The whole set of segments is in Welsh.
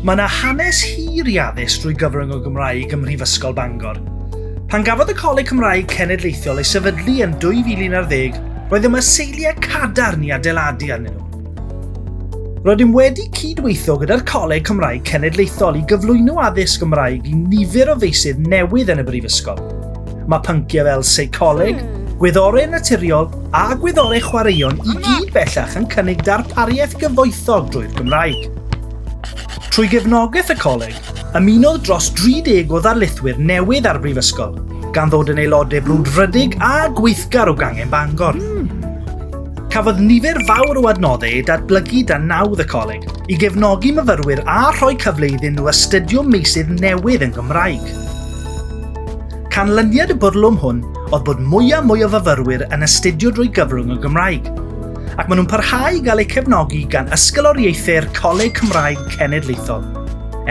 Mae yna hanes hir i addysg drwy gyfrwng o Gymraeg ym Mhrifysgol Bangor. Pan gafodd y Coleg Cymraeg Cenedlaethol ei sefydlu yn 2011, roedd yma seiliau cadarn i adeiladu arnyn nhw. Rydym wedi cydweithio gyda'r Coleg Cymraeg Cenedlaethol i gyflwyno addysg Gymraeg i nifer o feysydd newydd yn y Brifysgol. Mae pynciau fel seicoleg, gwyddorau naturiol a gwyddorau chwaraeon i gyd bellach yn cynnig darpariaeth gyfoethog drwy'r Gymraeg. Trwy gefnogaeth y coleg, ymunodd dros 30 o ddarlithwyr newydd â'r brifysgol, gan ddod yn aelodau brwdfrydig a gweithgar o gangen Bangor. Cafodd nifer fawr o adnoddau ei datblygu dan nawdd y coleg i gefnogi myfyrwyr a rhoi cyfle iddyn nhw astudio meysydd newydd yn Gymraeg. Canlyniad y bwrlwm hwn oedd bod mwy a mwy o fyfyrwyr yn astudio drwy gyfrwng y Gymraeg, ac maen nhw'n parhau i gael eu cefnogi gan ysgoloriaethau'r Coleg Cymraeg Cenedlaethol.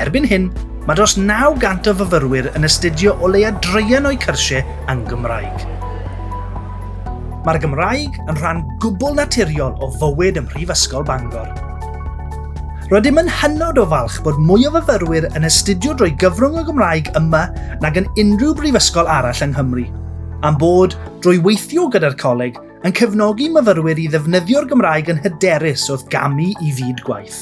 Erbyn hyn, mae dros 900 o fyfyrwyr yn astudio o leia draean o'u cyrsiau yn Gymraeg. Mae'r Gymraeg yn rhan gwbl naturiol o fywyd ym Mhrifysgol Bangor. Rydym yn hynod o falch bod mwy o fyfyrwyr yn astudio drwy gyfrwng y Gymraeg yma nag yn unrhyw brifysgol arall yng Nghymru, a'n bod, drwy weithio gyda'r coleg, yn cefnogi myfyrwyr i ddefnyddio'r Gymraeg yn hyderus wrth gamu i fyd gwaith.